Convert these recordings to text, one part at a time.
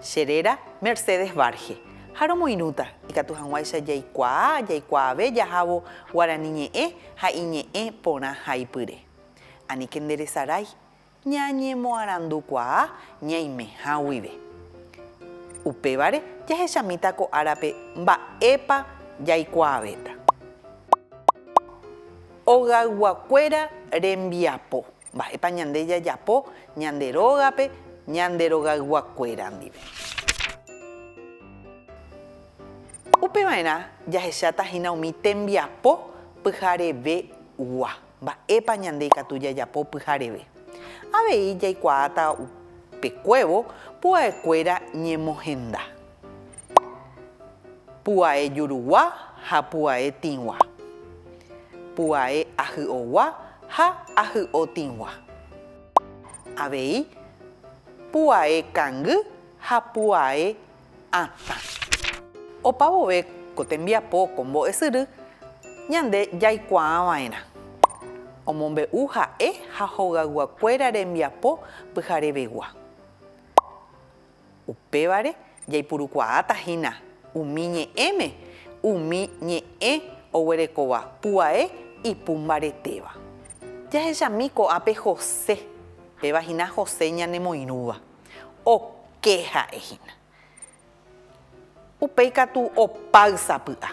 Che réra Mercedes Varge. Ha romoirũta, ikatu hag̃uáicha jaikuaa jaikuaave jahávo guarani ñe'ẽ ha iñe'ẽ porã haipyre. Aníke nderesarái ñañemoarandukuaa ñaimeha guive. Upévare jahechamíta ko árape mba'épa jaikuaavéta. Hogayguakuéra rembiapo. Mba'épa ñande jajapo ñande rógape ñande rogayguakuéra ndive? Upe va'erã jahecháta hína umi tembiapo pyharevegua. Mba'épa ñande ikatu jajapo pyhareve? Avei jaikuaáta upe kuévo pu'aekuéra ñemohenda. Pu'ae jurugua ha pu'ae tĩgua. Pu'ae ahy'ogua ha ahy'o tĩgua. Avei pu'ae kangy ha pu'ae atã. Opa vove ko tembiapo ko mbo'esyry ñande jaikuaa va'erã. Omombe'u ha'e ha hogayguakuéra rembiapo pyharevegua. Upévare jaipurukuaáta hína umi ñe'ẽme umi ñe'ẽ oguerekóva pu'ae ipu mbaretéva. Jahechami ko'ápe José, péva hína José ñanemoirũva. Oke ha'e hína. Upéi katu opáy sapy'a.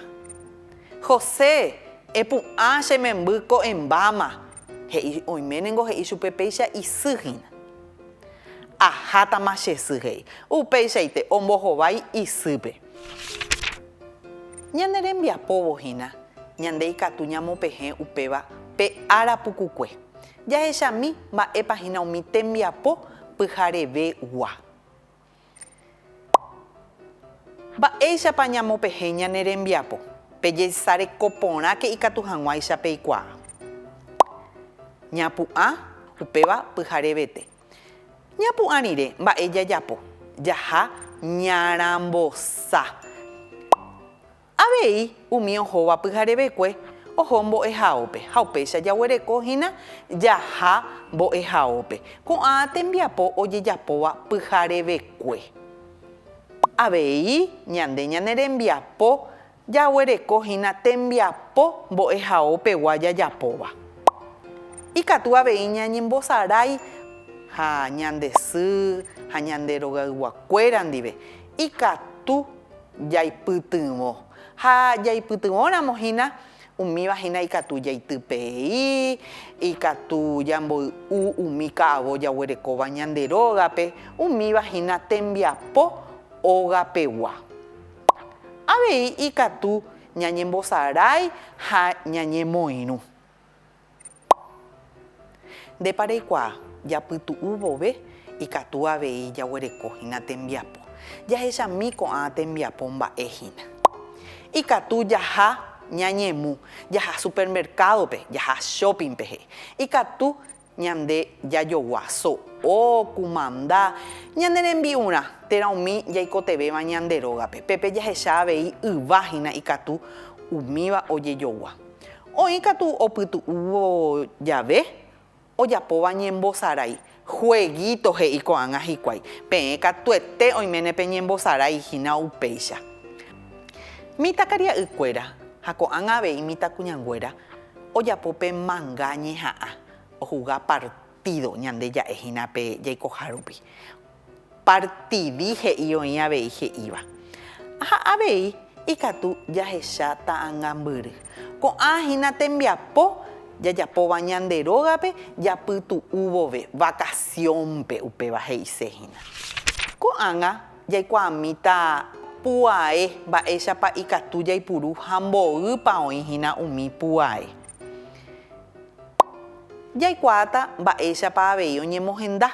José, epu'ã che memby ko'ẽmbáma, he'i. Oime ningo he'i chupe péicha isy hína. Ahátama che sy, he'i. Upeichaite ombohovái isýpe. Ñane rembiapóvo hína, ñande ikatu ñamopehẽ upéva pe ára pukukue. Jahechami mba'épa hína umi tembiapo pyhareve gua. Mba'éichapa ñamopehe ñane rembiapo pe jeisareko porãke ikatu hag̃uáicha peikuaa? Ñapu'ã, upéva pyharevete. Ñapu'ã rire mba'e jajapo, jaha ñarambosa. Avei umi ohóva pyharevekue oho mbo'ehaópe, ha upéicha jaguereko hína jaha mbo'ehaópe, ko'ã tembiapo ojejapóva pyharevekue. Avei ñande ñane rembiapo jaguereko hína tembiapo mbo'ehaópegua jajapóva. Ikatu avei ñañembosarái ha ñande sy ha ñande rogayguakuéra ndive, ikatu. Jaipytyvõ. Ha jaipytyvõramo hína, umíva hína ikatu jaitypei, ikatu jamboy'u umi ka'avo jaguerekóva ñande rógape, umíva hína tembiapo ógapegua. Avei ikatu ñañembosarái ha ñañemoirũ. Ndépa reikuaa? Japytu'u vove ikatu avei jaguereko hína tembiapo. Jahechami ko'ã tembiapo mba'e hína. Ikatu jaha ñañemu, jaha supermercado-pe, jaha shopping-pe he'i. Ikatu ñande jajogua so'o, kumanda, ñane rembi'urã, térã umi jaikotevẽva ñande rógape. Pépe jahecha avei yva hína ikatu umíva ojejogua. Oĩ katu opytu'úvo jave ojapóva ñembosarái, jueguíto he'i ko'ág̃a hikuái, peẽ katuete oiméne peñembosarái hína upéicha. Mitãkaria'ykuéra ha ko'ág̃a avei mitãkuñanguéra ojapo pe manga ñeha'ã ohuga partído ñande ja'e hína pe jaikoha rupi. Partidi he'i oĩ avei he'íva. Ha avei ikatu jahecha ta'angambyry. Ko'ã hína tembiapo jajapóva ñande rógape japytu'u vove, vacación-pe upéva he'ise hína. Ko'ág̃a jaikuaamíta puae mba'éichapa ikatu jaipuru ha mboýpa oĩ hína umi puae. Jaikuaáta mba'éichapa avei oñemohenda.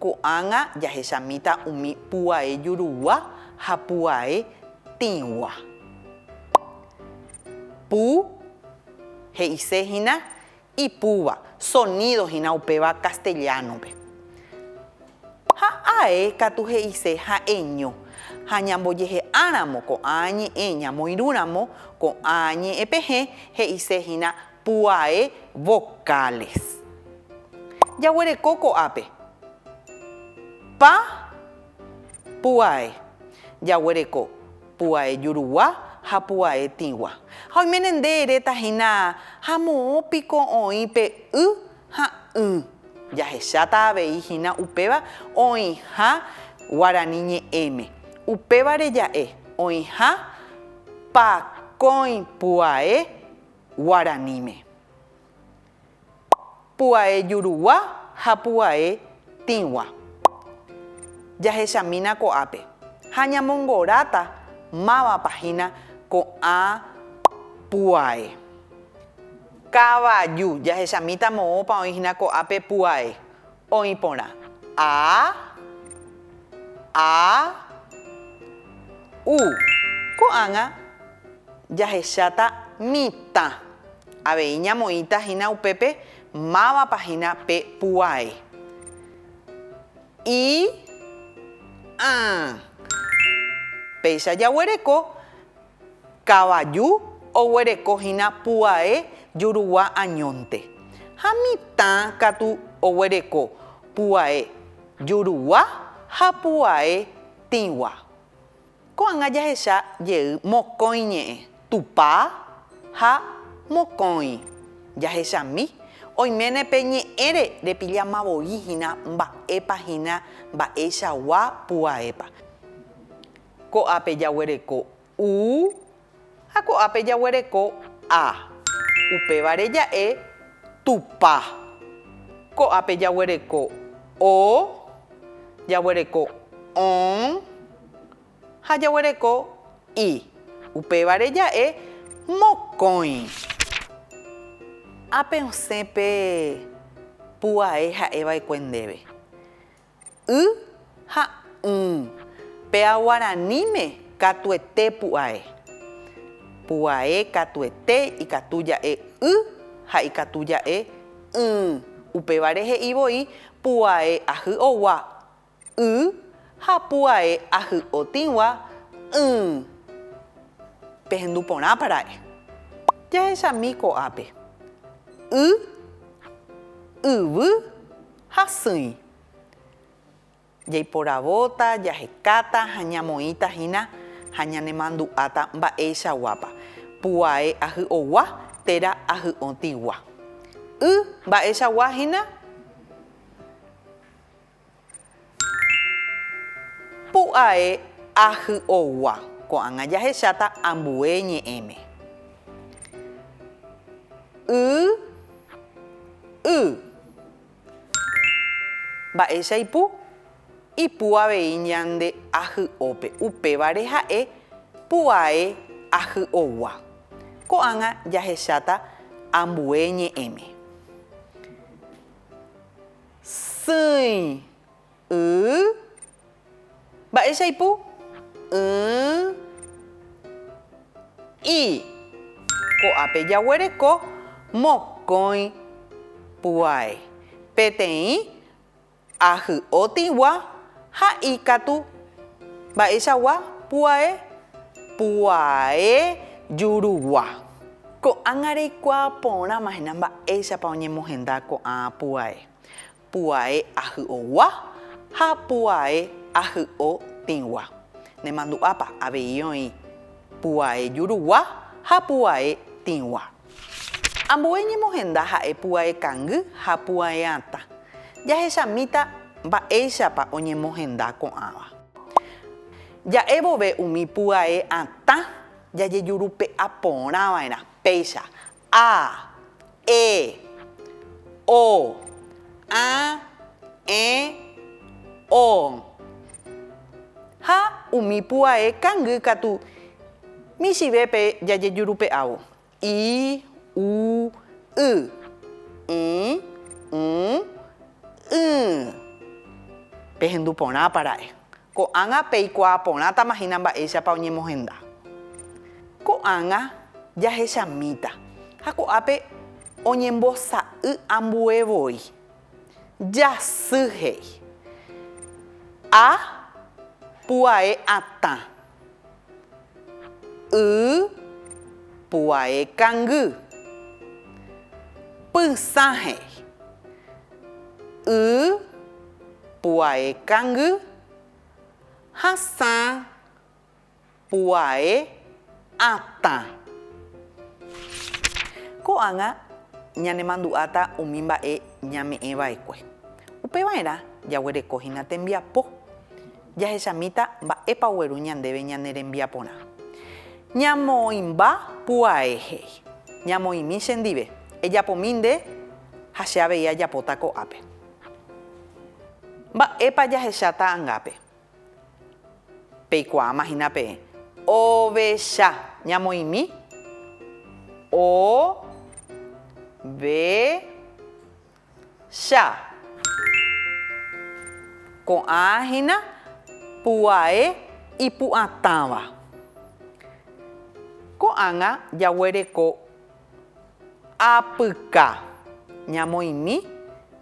Ko'ág̃a jahechamíta umi pu'ae jurugua ha pu'ae tĩgua. Pu, he'ise hína ipúva, sonído hína upéva castellano-pe. Ha ae katu he'ise ha'eño. Ha ñambojehe'áramo ko'ã ñe'ẽ ñamoirũramo ko'ã ñe'ẽ pehẽ, he'ise hína Pu'ae vocales. Jaguereko ko'ápe. Pa, pu'ae. Jaguereko pu'ae jurugua ha pu'ae tĩgua. Ha oiméne nde eréta hína ha moõ piko oĩ pe y ha ỹ. Jahecháta avei hína upéva oĩha guarani ñe'ẽme. Upévare ja'e oĩha pakõi pu'ae. Guaraníme. Pu'ae jurugua ha pu'ae tĩgua. Jahechamína ko'ápe ha ñamongoráta mávapa hína ko'ã pu'ae. Kavaju, jahechamíta moõpa oĩ hína ko'ápe pu'ae. Oĩ porã. A, a, u. Ko'ág̃a jahecháta mitã. Avei ñamoĩta hína upépe mávapa hína pe puái. I, ã. Péicha jaguereko Kavaju oguereko hína puae jurugua añónte, ha mitã katu oguereko puae jurugua ha puae tĩgua. Ko'ág̃a jahecha jey mokõi ñe'ẽ, Tupã ha mokõi jahechami, oiméne pe ñe'ẽre repillama voi hína mba'épa hína mba'eichagua puaépa. Ko'ápe jaguereko u ha ko'ápe jaguereko a. Upévare ja'e Tupã. Ko'ápe jaguereko o, jaguereko õ ha jaguereko i. Upévare ja'e Mokõi. Ápe osẽ pe pu'ae ha'e va'ekue ndéve. Y ha ũ. Péa guaraníme katuete pu'ae. Pu'ae katuete ikatu ja'e y ha ikatu ja'e ỹ. Upévare he'i voi pu'ae ahy'ogua, y, ha pu'ae ahy'otĩgua, ỹ. Pehendu porãpa ra'e. Jahechami ko'ápe. Y, yvy, Hasýi. Jaiporavóta, jahekáta ha ñamoĩta hína ha ñanemandu'áta mba'eichaguápa, puae ahy'ogua térã ahy'õtigua. Y mba'eichagua hína, pu'ae ahy'ogua. Ko'ág̃a jahecháta ambue ñe'ẽme. Y Y. Mba'éicha ipu? Ipu avei ñande ahy'ópe, upévare ha'e pu'ae ahy'ogua. Ko'ág̃a jahecháta ambue ñe'ẽme. Sỹi. Y. Mba'éicha aipu? Y, i. Ko'ápe jaguereko mokõi puái, peteĩ ahy'otĩgua ha ikatu mba'eichagua puae, puae jurugua. Ko'ág̃a reikuaa porãmahina mba'éichapa oñemohenda ko'ã puae. puae ahy'ogua ha puae ahy'otĩgua. Nemandu'ápa avei oĩ puae jurugua ha puae tĩgua. Ambue ñemohenda ha'e puae kangy ha puae atã. Jahechamíta mba'éichapa oñemohenda ko'ãva. Ja'e vove umi puae atã jajejurupe'a porã va'erã péicha A, e, o, a, ẽ, o. Ha umi pu'ae kangy katu michĩvépe jajejurupe'ávo, i, u, y, ĩ, ũ, ỹ. Pehendu porãpa ra'e, Ko'ág̃a peikuaa porãtama hína mba'éichapa oñemohenda. Ko'ág̃a jahechamíta ha ko'ápe oñembosa'y ambue voi. Jasy he'i. A. Pu'ae atã. Y puae kangy. Pysã he'i. Y puae kangy. Hasã puae atã. Ko'ág̃a ñanemandu'áta umi mba'e ñame'ẽva'ekue. Upeva'erã jaguereko hína tembiapo. Jahechamíta mba'épa ogueru ñandéve ñane rembiaporã. Ñamoĩmba pu'ae he'i, Ñamoĩmi chendive, ejapomi nde ha che avei ajapóta ko'ápe. Mba'épa jahecha ta'angápe? Peikuaáma hína peẽ. Ovecha. Ñamoĩmi? O. Ve. Cha. Ko'ã hína pu'ae ipu'atãva. Ko'ág̃a jaguereko apyka ñamoĩmi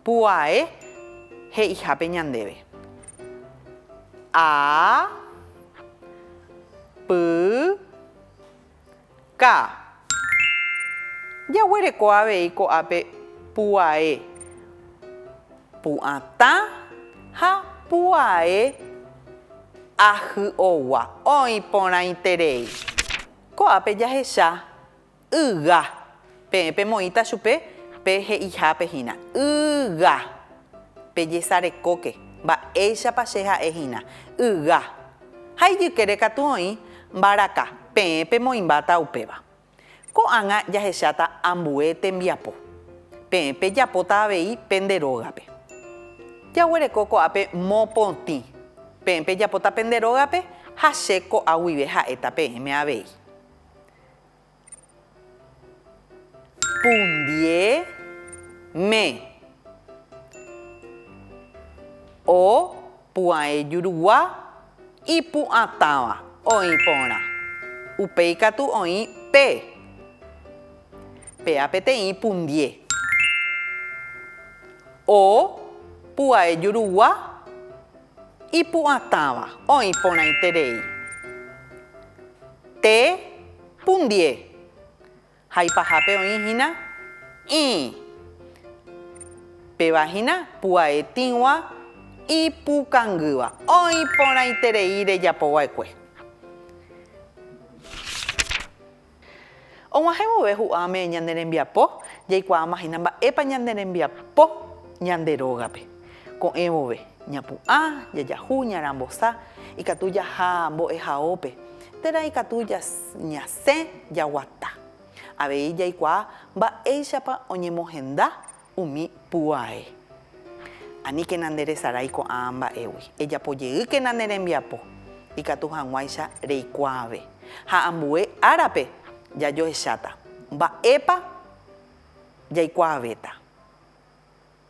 pu'ae he'ihápe ñandéve. A, py, Ka. Jaguereko avei ko'ápe pu'ae, pu'atã ha pu'ae ahy'ogua oĩ porãiterei. Ko'ápe jahecha yga Peẽ pemoĩta chupe pe he'ihápe hína, Yga! Pejesarekóke, mba'éichapa che ha'e hína, Yga! Ha ijykére katu oĩ, Mbaraka, peẽ pemoĩmbáta upéva. Ko'ág̃a jahecháta ambue tembiapo. Peẽ pejapóta avei pende rógape. Jaguereko ko'ápe mopotĩ. Peẽ pejapóta pende rógape ha che ko'a guive ha'éta peẽme avei. Pundie me. O pu'ae jurugua ipu'atãva oĩ porã. Upéi katu oĩ pe. Péa peteĩ pundie. O pu'ae jurugua ipu'atãva oĩ porãiterei. Te. Pundie. Ha ipahápe oĩ hína ĩ. Péva hína pu'aetĩgua ipukangýva. Oĩ porãiterei rejapo va'ekue. Og̃uahẽ vove hu'ãme ñane rembiapo, jaikuaáma hína mba'épa ñane rembiapo ñande rógape. Ko'ẽ vove, ñapu'ã, jajahu, ñarambosa, ikatu jaha mbo'ehaópe, térã ikatu ñasẽ jaguata. Avei jaikuaa mba'éichapa oñemohenda umi pu'ae. Aníkena nderesarái ko'ã mba'égui, ejapojeýkena ne rembiapo, ikatu hag̃uáicha reikuaave. Ha ambue árape jajohecháta, mba'épa jaikuaavéta.